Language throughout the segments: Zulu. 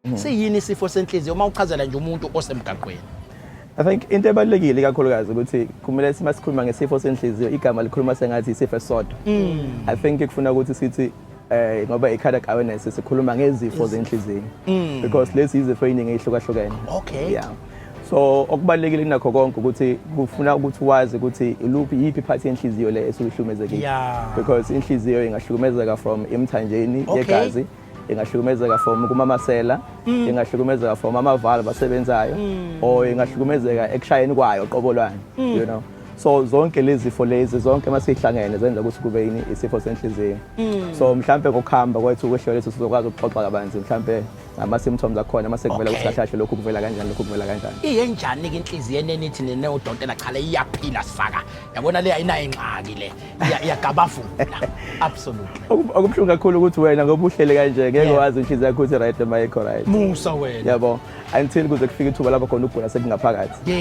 Hmm. Siyini isifo senhliziyo uma uchazela nje umuntu osemgaqweni? I think into ebalulekile kakhulukazi ukuthi kumele sima sikhuluma ngesifo senhliziyo igama likhuluma sengathi isifo esodwa. Hmm. I think kufuna ukuthi sithi eh ngoba i-cardiac awareness sikhuluma ngezifo zenhliziyo hmm. because lezi izifo eziningi ezihlukahlukene. Okay. Yeah. so okubalekile kunakho konke ukuthi kufuna ukuthi wazi ukuthi iluphi yiphi part yenhliziyo le esukuhlumezekile yeah. because inhliziyo ingahlukumezeka from emthanjeni okay. yegazi ingahlukumezeka from kumamasela mm. ingahlukumezeka from amavalve asebenzayo mm. or ingahlukumezeka ekushayeni kwayo qobo lwani mm. you know so zonke lezi zifo lezi zonke uma sihlangene zenza ukuthi kube yini isifo senhliziyo mm. so mhlampe ngokuhamba kwethu kwehlelo lethu sizokwazi ukuxoxa kabanzi mhlampe ngama-symptoms akhona uma sekuvela ukuthi kahle kahle lokhu kuvela kanjani lokhu kuvela kanjani iyenjani-ke inhliziyo enenithi nene udokotela chala iyaphila saka yabona le ayinayo ingxaki le iyagabavula absolutely okubuhlungu kakhulu ukuthi wena ngoba uhlele kanje ngeke wazi inhliziyo yakho ukuthi right ma ikho right musa wena yabo until kuze kufike ithuba lapho khona ukugula sekungaphakathi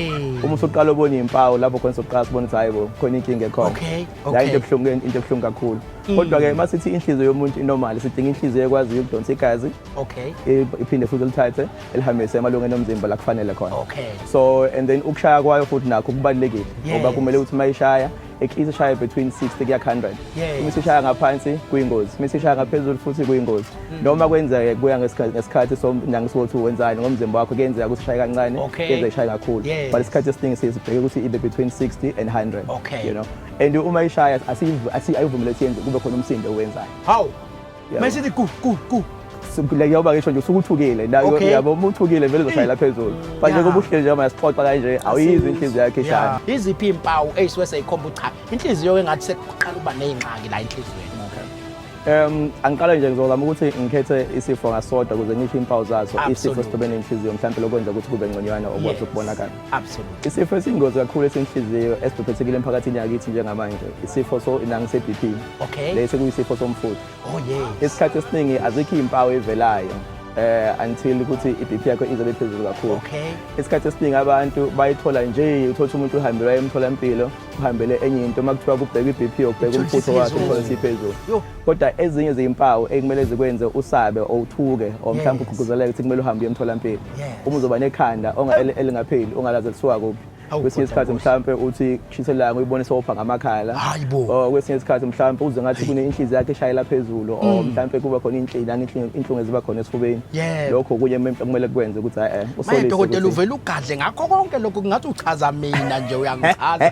uma usuqala ubona izimpawu lapho khona sokuqala sibona ukuthi hayi bo khona inkinga ekhona la into ebuhlungu into ebuhlungu kakhulu mm. kodwa ke masithi inhliziyo yomuntu inormal sidinga inhliziyo ekwaziyo ukudonsa igazi okay iphinde futhi lithathe elihambise emalungeni omzimba la kufanele khona okay so and then ukushaya kwayo futhi nakho kubalekile ngoba kumele ukuthi mayishaya eklisa ushaya between 60 kuya 100 uma isishaya ngaphansi kuyingozi uma isishaya ngaphezulu futhi kuyingozi hmm. noma kwenzeke kuya ngesikhathi somnyanga sokuthi wenzani ngomzimba wakho kuyenzeka ukuthi ishaye kancane kuyenzeka ishaye kakhulu but isikhathi esiningi siyibheke ukuthi ibe between 60 and 100 you know and uma ishaya asiyivumeleki yenze kube khona umsindo owenzayo hawu manje sithi ku ku ku like yoba ngisho nje usukuthukile nayo yabo uma uthukile vele uzoshayela phezulu but njengoba uhleli njengoba yasixoxa kanje awuyizi inhliziyo yakhe ishaya iziphi impawu eyisuke seyikhomba ukuthi cha inhliziyo engathi sekuqala ukuba nezingxaki la enhliziyweni Um angiqala nje ngizozama ukuthi ngikhethe isifo ngasodwa ukuze ngisho impawu zaso isifo sitobene inhliziyo mhlawumbe lokwenza ukuthi kube ngconywana okwazi ukubonakala Absolutely. Isifo esingozi kakhulu esenhliziyo esibhebhethekile emphakathini yakithi njengamanje isifo so inangi se-BP. Okay. Lesi kuyisifo somfutho. Oh yes. Isikhathi esiningi azikho izimpawu evelayo eh until ukuthi iBP yakho izobe phezulu kakhulu okay isikhathi esiningi abantu bayithola nje uthola umuntu uhambela emtholampilo uhambele enye into makuthiwa kubheka iBP yokubheka umfutho wakhe uthola siphezulu kodwa ezinye izimpawu ekumele zikwenze usabe owuthuke or mhlawumbe ugquzeleke ukuthi kumele uhambe emtholampilo uma uzoba nekhanda elingapheli ongalazi kuthiwa kuphi kwesinye isikhathi mhlawumpe uthi kushisa ilanga uyibone sopha ngamakhala or kwesinye isikhathi mhlawumpe uze ngathi kunenhlizi yakhe eshayela phezulu or mm. mhlawumpe kuba khona inhlila inhlungu eziba khona esifubeni lokho kunye kumele kwenze ukuthi hayi eh, usolise dokotela uvela ugadle ngakho konke lokho kungathi uchaza mina nje uyangichaza